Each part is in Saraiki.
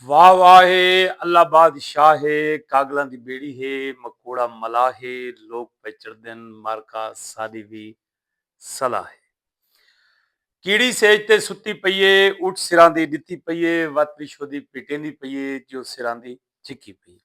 واہ واہ ہے اللہ باد شاہ ہے کاگلاں دی بیڑی ہے مکوڑا ملاح ہے لوک پئے چڑھدن مارکا ساڈی وی صلاح ہے کیڑی سیج تے ستی پئی ہے اٹھ سراندی ڈتی پئی ہے وت وشو دی پٹیندی پئی ہے جو سراندی چکی پئی ہے۔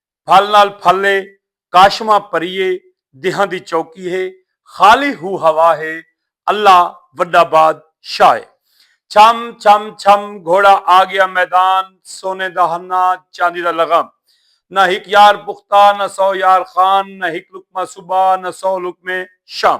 پھل نال پھل اے کاشماں پریے دیہاں دی چوکی ہے خالی ہو ہوا ہے اللہ وڈا باد شاہ ہے چھم چھم چھم گھوڑا آ گیا میدان سونے دا ہنہ چاندی دا لغم نہ ہک یار پختہ نہ سو یار خان نہ ہک لقمہ صبح نہ سو لقمے شام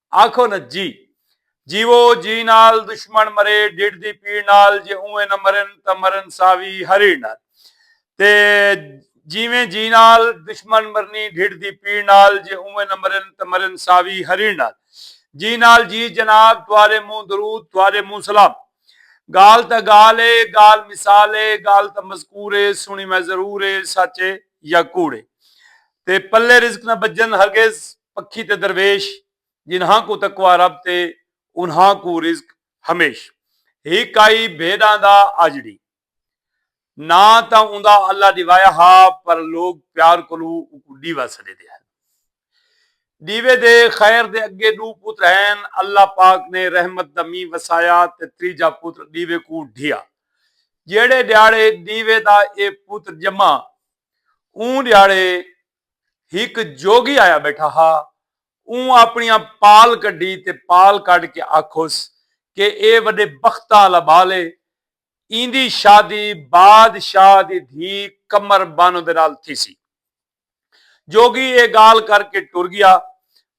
آکھو نہ جی جیوو جی نال دشمن مرے ڈڈھ دی پیڑ نال جے اونویں نہ مرن تاں مرن ساوی ہریڑ نال تے جیویں جی نال دشمن مرنی ڈڈھ دی پیڑ نال جے اونویں نہ مرن تاں مرن ساوی ہریڑ نال جی نال جی جناب تہاڈے مونہہ درود تہاڈے مونہہ سلام گالھ تاں گالھ اے گالھ مثال اے گالھ تاں مذکور اے سنڑی میں ضرور اے سچ اے یا کوڑ اے تے پلے رزق نہ بجن ہرگز پکھی تے درویش جنہاں کوں تقوی رب تے انہاں کوں رزق ہمیش ہک آئی بھیݙاں دا آجڑی ناں تاں اوندا اللہ ݙیوایا ہا پر لوک پیار کولوں اونکوں ݙیوا سݙیندے ہن ݙیوے دے خیر دے اڳے ݙو پتر ہن اللہ پاک نے رحمت دا مینہ وسایا تے تریجھا پتر ݙیوے کوں ڈھیا جیہڑے ݙیہاڑے ݙیوے دا اے پتر ڄما اوں ݙیہاڑے ہک جوگی آیا ٻیٹھا ہا اوں آپݨیاں پال کڈھی تے پال کڈھ کے آکھوس کہ اے وݙے بختاں آلا ٻال اے ایندی شادی باد شاہ دی دھی قمر بانو دے نال تھیسی جوگی اے ڳالھ کر کے ٹر ڳیا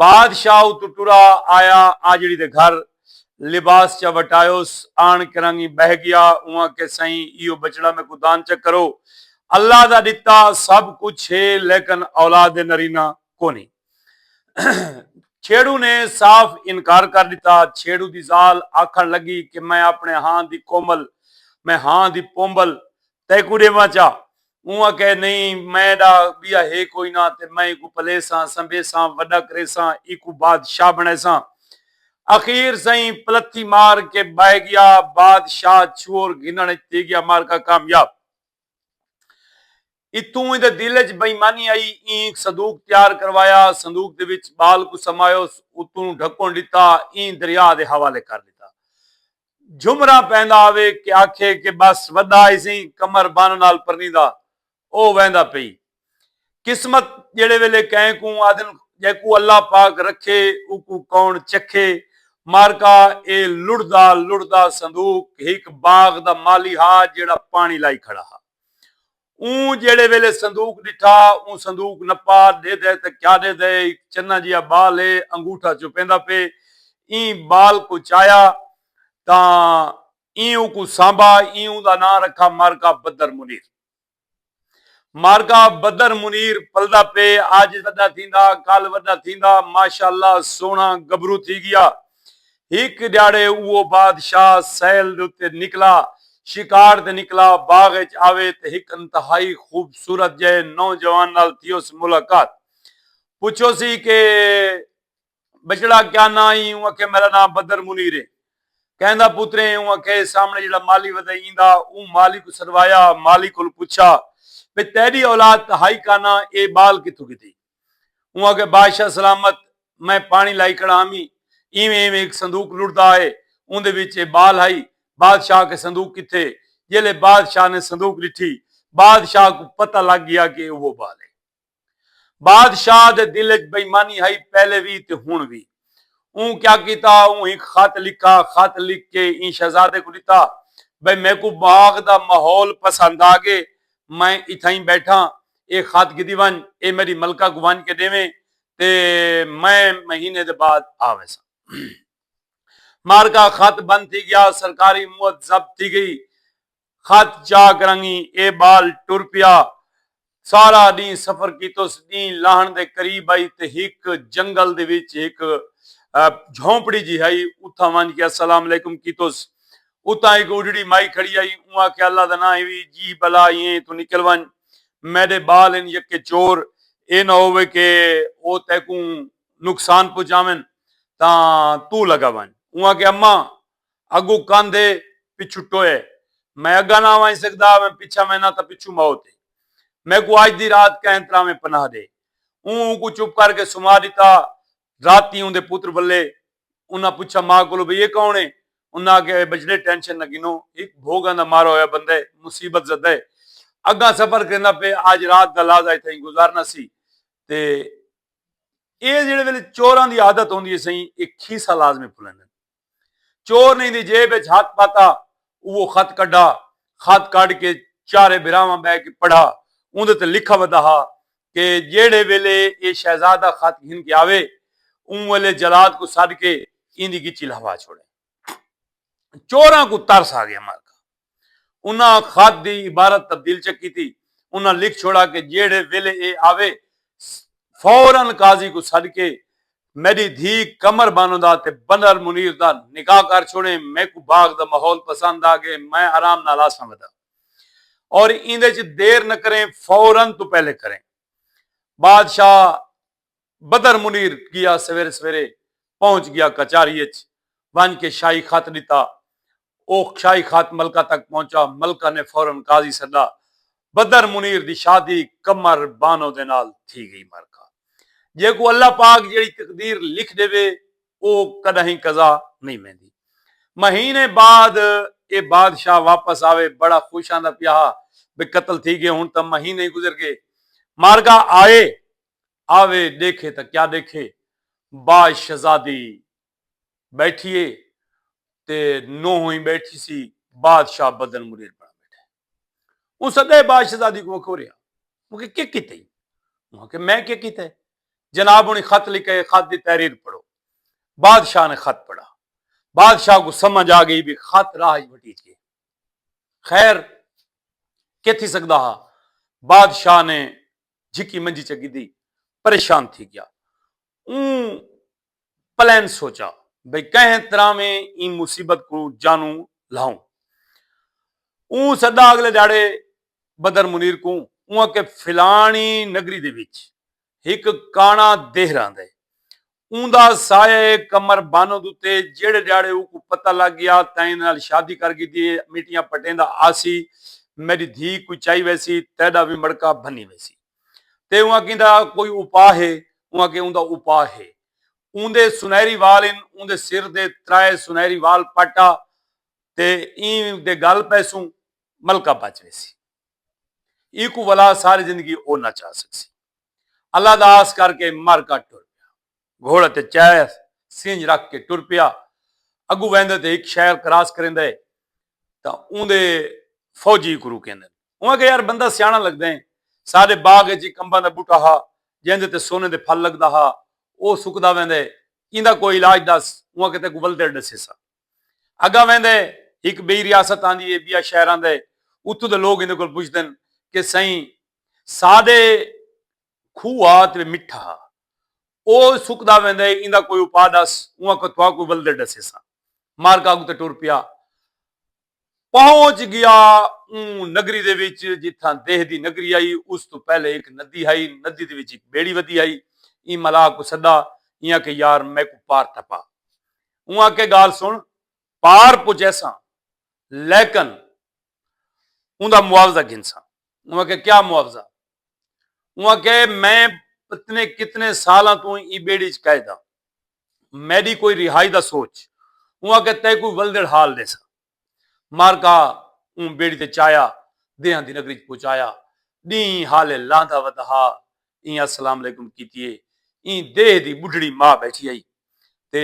بادشاہ اتوں ٹرا آیا آجڑی دے گھر لباس چا وٹایوس آن کرنگیں بہہ گیا اواں کہ سئیں ایہو بچڑا میکوں دان چا کرو اللہ دا ڈتا سب کچھ ہے لیکن اولاد نرینہ کونی چھیڑو نے صاف انکار کر ڈتا چھیڑو دی زال آکھن لگی کہ میں اپنے ہاں دی کومل میں ہاں دی پومبل تیکوں ݙیواں چا؟ اوں آکھیا نئیں میں ݙا ٻیا ہے کوئی نہ تے میں ایکوں پلیساں، سنبھیساں، وݙا کریساں، ایکوں بادشاہ بݨیساں۔ اخیر سئیں پلتھی مار کے ٻہہ ڳیا۔ بادشاہ چھوہر گھنݨ اچ تھی ڳیا معرکہ کامیاب۔ اتھوں ایندے دل اچ بے ایمانی آئی اینک صدوق تیار کروایا صندوق دے وچ ٻال کوں سمایوس اتوں ڈھکݨ ݙتا ایں دریا دے حوالے کر ݙتا۔ جھمرا پیندا آوے کہ آکھے کہ بس وڈا ہیسیں کمر بن نال پرنیندا او ویندا پئی قسمت جیڑھے ویلے کہیں کوں آدھن جیکوں اللہ پاک رکھے اوکوں کون چکھے مارکا اے لڑھدا لڑھدا صندوق ہک باغ دا مالی ہا جیڑھا پانی لائی کھڑا ہا۔ اوں جیڑھے ویلے صندوق ݙٹھا، اوں صندوق نپا، ݙیدھے تاں کیا ݙیدھے، ہک چناں جیہا ٻال ہے، انگوٹھا چپیندا پئے، ایں ٻال کوں چایا تاں ایں اوکوں سانبھا، ایں اوندا ناں رکھا مارکا بدر منیر۔ مارکا بدر منیر پلدا پئے، اج وݙا تھیندا، کل وݙا تھیندا، ماشاءاللہ سوہݨا گبرو تھی ڳیا، ہک ڈیہاڑے اوہو بادشاہ سیل دے اتے نکلا، شکار تے نکلا، باغ اچ آوے تے ہک انتہائی خوبصورت جئے نوجوان نال تھیوس ملاقات۔ پچھوسی کہ بچڑا کیا ناں ایں؟ اوں آکھے میڈا ناں بدر منیر اے۔ کیندا پتر ایں؟ اوں آکھے اے سامنے جیڑھا مالی ودے ایندا۔ اوں مالی کوں سدوایا، مالی کولوں پچھا بھئی تیڈی اولاد تہائی کاناں اے بال کتھوں گھدی؟ اوں آکھیا بادشاہ سلامت میں پاݨی لائی کھڑا ہامی ایویں ایویں ہک صندوق لڑدا آئے اوندے وچ اے بال ہائی بادشاہ آکھے صندوق کتھے جیلھے بادشاہ نے صندوق ڈٹھی بادشاہ کوں پتہ لگ گیا کہ اے اوہو بال ہے بادشاہ دے دل وچ بےایمانی ہائی پہلے وی تے ہن وی اوں کیا کیتا اوں ہک خط لکھا خط لکھ کے ایں شہزادے کوں ڈتا بھئی میکوں باغ دا ماحول پسند آ گے میں اتھائیں بیٹھاں اے خط گھدی ونج اے میڈی ملکہ کوں ونج کے ڈیویں تے میں مہینے دے بعد آ ویساں مارکا خط بند تھی گیا سرکاری موت ضبط تھی گئی خط چاک رنگیں اے بال ٹر پیا۔ سارا ڈینہہ سفر کیتس۔ ڈینہہ لاہنڑ دے قریب ہئی تے ہک جنگل دے وچ ہک جھونپڑی جی ہئی۔ اتھاں ونج کے السلام علیکم کیتس۔ اتھاں ہک اڈھڑی مائی کھڑی ہئی۔ اوں آکھیا اللہ دا ناں ہیوی جی بلا ای ایں اتھوں نکل ونج۔ میڈے بال ہن یکے چور اے نہ ہووے کے او تیکوں نقصان پہنچاون تاں توں لگا ونج۔ اوں آکھیا اماں! اگوں کندھ اے پچھوں ٹوئے اے میں اگاں نہ ونج سگدا اویں پچھاں وینداں تاں پچھوں موت اے میکوں اج دی رات کہیں تراویں پناہ ڈے اوں اونکوں چپ کر کے سما ڈتا راتی اوندے پتر بلے انہاں پچھا ماء کولوں بھئی اے کون اے انہاں آکھیا اے بچڑے ٹینشن نہ گھنو ہک بھوگاں دا مارا ہویا بندہ اے مصیبت زدہ اے اگاں سفر کریندا پے اج رات دا لازا اتھائیں گزارنا سی تے اے جیڑھے ویلے چوراں دی عادت ہوندی اے سئیں اے کھیسہ لازمی پھلیندن۔ چورنیں دی جیب اچ ہتھ پاتا اوہو خط کڈھا۔ خط کڈھ کے چارے بھراواں بہہ کے پڑھا۔ اوندے تے لکھا ودا ہا کہ جیہڑے ویلے ایہ شہزادہ خط گھن کے آوے اوں ویلے جلاد کوں سڈ کے ایندی گچی لہوا چھوڑیں۔ چوراں کوں ترس آ گیا مالکا انہاں خط دی عبارت تبدیل چا کیتی۔ انہاں لکھ چھوڑا کہ جیہڑے ویلے ایہ آوے فورا قاضی کوں سڈ کے میڈی دھی قمر بانو دا تے بنر منیر دا نکاح کر چھوڑیں۔ میکوں باغ دا ماحول پسند آ گئے۔ میں آرام نال آساں ودا۔ اور ایندے چ دیر نہ کریں فورا توں پہلے کریں۔ بادشاہ بدر منیر گیا سویرے سویرے پہنچ گیا کچاری اچ ونج کے شاہی خط ڈتا او شاہی خط ملکہ تک پہنچا ملکہ نے فورن قاضی سڈا بدر منیر دی شادی قمر بانو دے نال تھی گئی مرکہ جیکوں اللہ پاک جیڑی تقدیر لکھ ڈیوے او کڈاہیں قضا نہیں ویندی مہینے بعد اے بادشاہ واپس آوے بڑا خوش آندا پیا ہا بے قتل تھی گئے ہن تاں مہینے گزر گئے مارگا آئے آوے ݙیکھے تاں کیا ݙیکھے باء شہزادی ٻیٹھی اے تے نوہوئیں ٻیٹھی سی بادشاہ بدن مریر بݨا ٻیٹھا اے اوں سدے باء شہزادی کوں آکھو ریا مونکوں کیا کیتے ایں اوں آکھے میں کیا کیتے جناب ہنڑی خط لکھے اے خط دی تحریر پڑھو بادشاہ نے خط پڑھا بادشاہ کوں سمجھ آ گئی وی خط راہ اچ بھٹی تھیے خیر کے تھی سکدا ہا بادشاہ نے جھکی منجی چ گدی پریشان تھی گیا۔ اوں پلین سوچا بھئی کہیں طرح میں ایں مصیبت کوں جانوں لہاؤں۔ اوں سدا اگلے دھیاڑے بدر منیر کوں اوں آکھے فلانی نگری دے وچ ہک کانا دیہہ رہندے اوندا سایہ اے قمر بانو دتے جیڑھے ڈیاڑے اوکوں پتہ لگ گیا تیں ایندے نال شادی کر گھدی اے میٹیاں پٹیندا آسی میڈی دھی کوئی چائی ویسی تیڈا وی مڑکا بھنی ویسی تے اوں آکھیں دا کوئی اوپا ہے اوں آکھیں اوندا اوپا ہے اوندے سنہری وال ان اوندے سر دے ترائے سنہری وال پٹ آ تے ایں دے گل پیسوں ملکہ بچ ویسی ایکوں ولا ساری زندگی او نہ چا سکسی۔ اللہ دا آس کر کے مر گھٹ ٹر پیا۔ گھوڑے تے چہہ سینج رکھ کے ٹر پیا۔ اگوں ویندے تے ہک شہر کراس کریندے تاں اوندے فوجی اکوں روکیندن۔ اوں آکھیا یار بندہ سیاݨا لگدیں۔ ساݙے باغ اچ ہک امباں دا ٻوٹا ہا جیندے تے سونے دے پھل لڳدا ہا۔ او سکدا ویندے۔ ایندا کوئی علاج ݙس۔ اوں آکھیا تیکوں ولدڑ ݙسیساں۔ اگاں ویندے ہک بئی ریاست آندی اے بیا شہر آندے اتھوں دے لوگ ایندے کول پچھدن کہ سئیں ساڈے کھو ہا تے مٹھا ہا او سکدا ویندے ایندا کوئی اپا ڈس اوں آکھو تھاکوں ولدے ڈسیساں مارکا اگتے ٹر پیا پہنچ گیا اوں نگری دے وچ جتھاں دیہہ دی نگری ہئی اس توں پہلے ہک ندی ہئی ندی دے وچ ہک بیڑی ودی ہئی ایں ملاح کوں سدا ایں آکھے یار میکوں پار ٹپا اوں آکھے گال سن پار پجیساں لیکن اوندا معاوضہ گھنساں اوں آکھے کیا معاوضہ اوں آکھے میں پتنے کتنے سالاں توں ایں بیڑی چ قید ہاں میڈی کوئی رہائی دا سوچ۔ اوں آکھیا تئیں کوئی ولدڑ حال ڈیساں۔ مارکا اوں بیڑی تے چایا دیہاں دی نگری اچ پہنچایا۔ ڈینہہ حالے لاندا ودا ہا۔ ایں السلام علیکم کیتی اے۔ ایں دیہہ دی بڈھڑی ماء بیٹھی ہئی۔ تے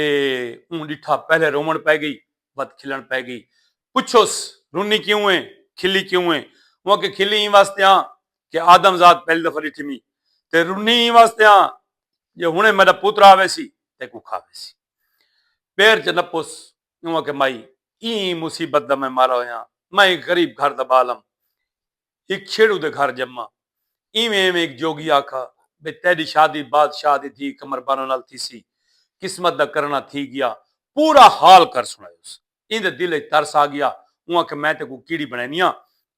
اوں ڈٹھا پہلے روون پئے گئی ود کھلن پئے گئی۔ پچھوس رونی کیوں اے؟ کھلی کیوں اے؟ اوں آکھیا کھلی ایں واسطے آں کہ آدم زاد پہلی دفعہ ڈٹھیمی۔ تے رونی ایں واسطے آں جے ہنے میڈا پتر آویسی تیکوں کھاویسی پیر چ نپس اوں آکھے مائی ایں مصیبت دا میں مارا ہویاں میں ہک غریب گھر دا بال ہم ہک چھیڑو دے گھر جمما ایویں ایویں ہک جوگی آکھا بھئی تیڈی شادی بادشاہ دی دھی قمربانو نال تھیسی قسمت دا کرنا تھی گیا پورا حال کر سنڑایوس۔ ایندے دل اچ ترس آ گیا۔ اوں آکھیا میں تیکوں کیڑی بنڑینیاں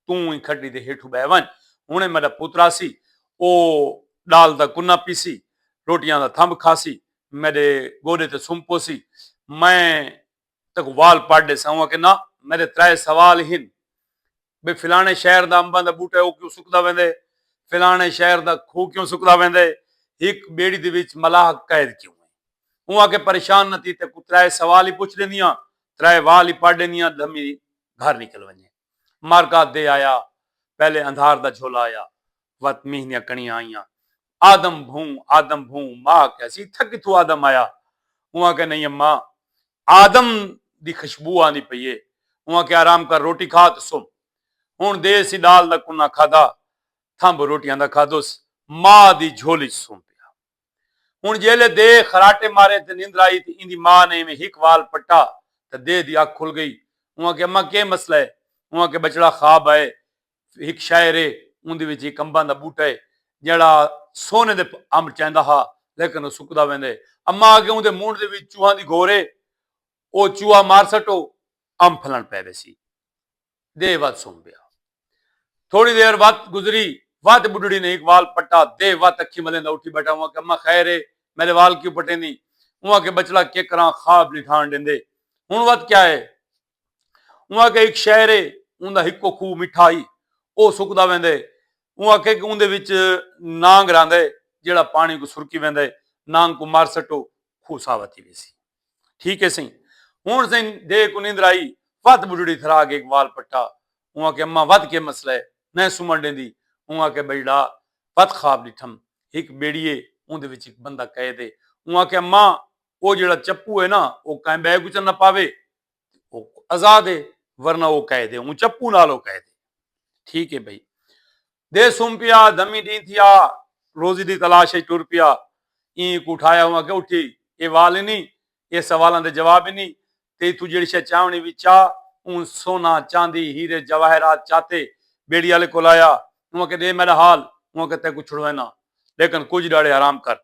توں ایں کھٹڑی دے ہیٹھوں بہہ ونج۔ ہنڑے میڈا پتر آسی او ڈال دا کناں پیسی، روٹیاں دا تھمب کھاسی، میڈے گوڈے تے سم پوسی۔ میں تیکوں وال پٹ ڈیساں۔ اوں آکھیا نہ میڈے ترائے سوال ہن۔ بھئی فلانے شہر دا امباں دا بوٹا ہے او کیوں سکدا ویندے فلانے شہر دا کھو کیوں سکدا ویندے ہک بیڑی دے وچ ملاح قید کیوں ہے اوں آکھے پریشان نہ تھی تیکوں ترائے سوال ہی پچھ ڈیندیاں ترائے وال ہی پڑھ ڈیندیاں دھمی گھر نکل ونجے مارکات دے آیا پہلے اندھار دا جھولا آیا وت مینھ دیاں کڑیاں آئیاں آدم بھوں آدم بھوں ماء آکھیا سی اتھا کتھوں آدم آیا اوں آکھیا نئیں اماں آدم دی خشبو آندی پئی اے اوں آکھیا آرام کر روٹی کھا تے سم ہن دیر سی ڈال دا کناں کھادا تھمب روٹیاں دا کھادوس ماء دی جھولی اچ سم پیا ہن جیلے دے خراٹے مارے تے نندر آئی تے ایندی ماء نے ایویں ہک وال پٹا تے دے دی اکھ کھل گئی اوں آکھیا اماں کے مسئلہ اے اوں آکھیا بچڑا خواب آئے ہک شاعر ہے اوندے وچ ہک امباں دا بوٹا ہے جیڑھا سونے دے امب چیندا ہا لیکن او سکدا ویندا ہے اماں آکھے اوندے مونڈھ دے وچ چوہاں دی گھور ہے او چوہا مار سٹو امب پھلݨ پئے ویسی دے وت سم پیا تھوڑی دیر وت گزری وت بڈھڑی نے ہک وال پٹا دے وت اکھیں ملیندا اٹھی بیٹھا اوں آکھے اماں خیر ہے میڈے وال کیوں پٹیندی اوں آکھے بچڑا کے کراں خواب نی ڈھاݨ ڈیندے ہن وت کیا ہے اوں آکھیا ہک شہر ہے اوندا ہکو کھوہ مٹھا ہی او سکدا ویندا ہے اوں آکھیا کہ اوندے وچ نانگ رہندا ہے جیڑا پانی کو سرکی ویندا ہے نانگ کو مار سٹو کھوہ ساوا تھی ویسی ٹھیک ہے سائیں ہن سائیں دے کو نیندر آئی ود بڈڑی تھرا کے ایک وال پٹا اوں آکھیا اماں ود کے مسئلہ ہے نہ سمن ڈیندی اوں آکھیا بھائی ڈا ود خواب ڈٹھم ہک بیڑی ہے اوندے وچ ایک بندہ قید ہے اوں آکھیا اماں او جیڑا چپو ہے نا او کہیں بے کو چ نہ پاوے آزاد ہے ورنہ او قید ہے اوں چپو نال او قید ہے ٹھیک ہے بھائی دے سم پیا دمی ڈی تھیا روزی دی تلاش وچ ٹر پیا این کو اٹھایا ہوا کہ اٹھی اے وال ہی نہیں اے سوالاں دے جواب ہی نہیں تے تو جڑی شے چاونی وی چا اون سونا چاندی ہیرے جواہرات چاتے بیڑی والے کول آیا اون کہ دے میرا حال اون کہ تے کو چھڑوینا لیکن کچھ ڈاڑے حرام کر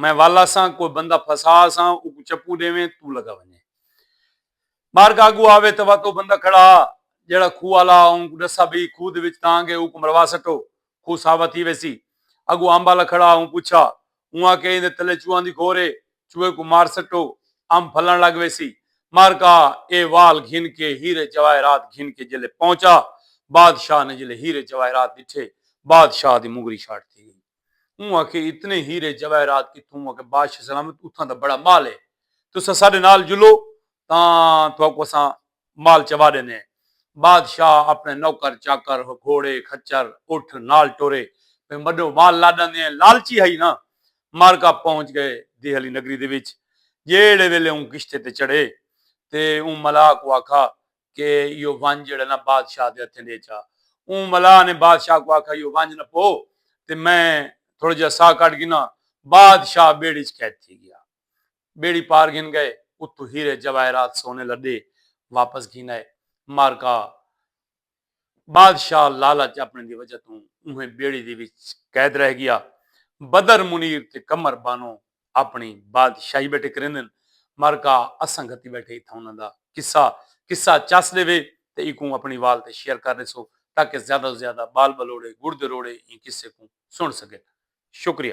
میں ول آساں کوئی بندہ پھسا آساں اوکوں چپو ڈیویں توں لگا ونجیں بارگاہ اگو آوے تاں وت او بندہ کھڑا ہا جیہڑا کھوہ آلا ہا اونکوں ڈسا بھئی کھوہ دے وچ تاں گے اوکوں مروا سٹو کھوہ ساوا تھی ویسی اگو امب آلا کھڑا ہا اوں پچھا اوں آکھیا ایندے تلے چوہاں دی گھور ہے چوہے کوں مار سٹو امب پھلن لگ ویسی مارکا اے وال گھن کے ہیرے جواہرات گھن کے جیلے پہنچا بادشاہ نے جیلے ہیرے جواہرات ڈٹھے بادشاہ دی مونگری شاٹ تھی گئی۔ اوں آکھے اتنے ہیرے جواہرات کتھوں آکھے بادشاہ سلامت اتھاں دا بڑا مال ہے تساں ساڈے نال جلو تاں تہاکوں اساں مال چوا ڈیندے ہیں بادشاہ اپنے نوکر چاکر گھوڑے خچر اٹھ نال ٹرے پے وڈو مال لا ڈاندے ہیں لالچی ہئی نا مارکا پہنچ گئے دیہلی نگری دے وچ جیہڑے ویلے اوں کشتے تے چڑھے تے اوں ملاح کوں آکھا کہ ایہو ونج جیہڑا نہ بادشاہ دے ہتھیں ڈے چا۔ اوں ملاح نے بادشاہ کوں آکھا ایہو ونج نہ پو تے میں تھوڑا جیہا ساہ کڈھ گھناں۔ بادشاہ بیڑی اچ قید تھی گیا۔ بیڑی پار گھن گئے اتوں ہیرے جواہرات سونے لڈے واپس گھن آئے۔ مارکا بادشاہ لالچ اپنے دی وجہ توں اونہے بیڑی دی وچ قید رہ گیا۔ بدر منیر تے قمر بانو اپݨی بادشاہی ٻیٹھے کریندن مر کا اساں گھتی ٻیٹھے اتھاں انہاں دا قصہ قصہ چس ݙیوے تے ایکوں اپݨی وال تے شیئر کر ݙیسو تاکہ زیادہ توں زیادہ ٻال ٻلوڑے ڳڑھ دے روڑے ایں قصے کوں سݨ سڳن شکریہ۔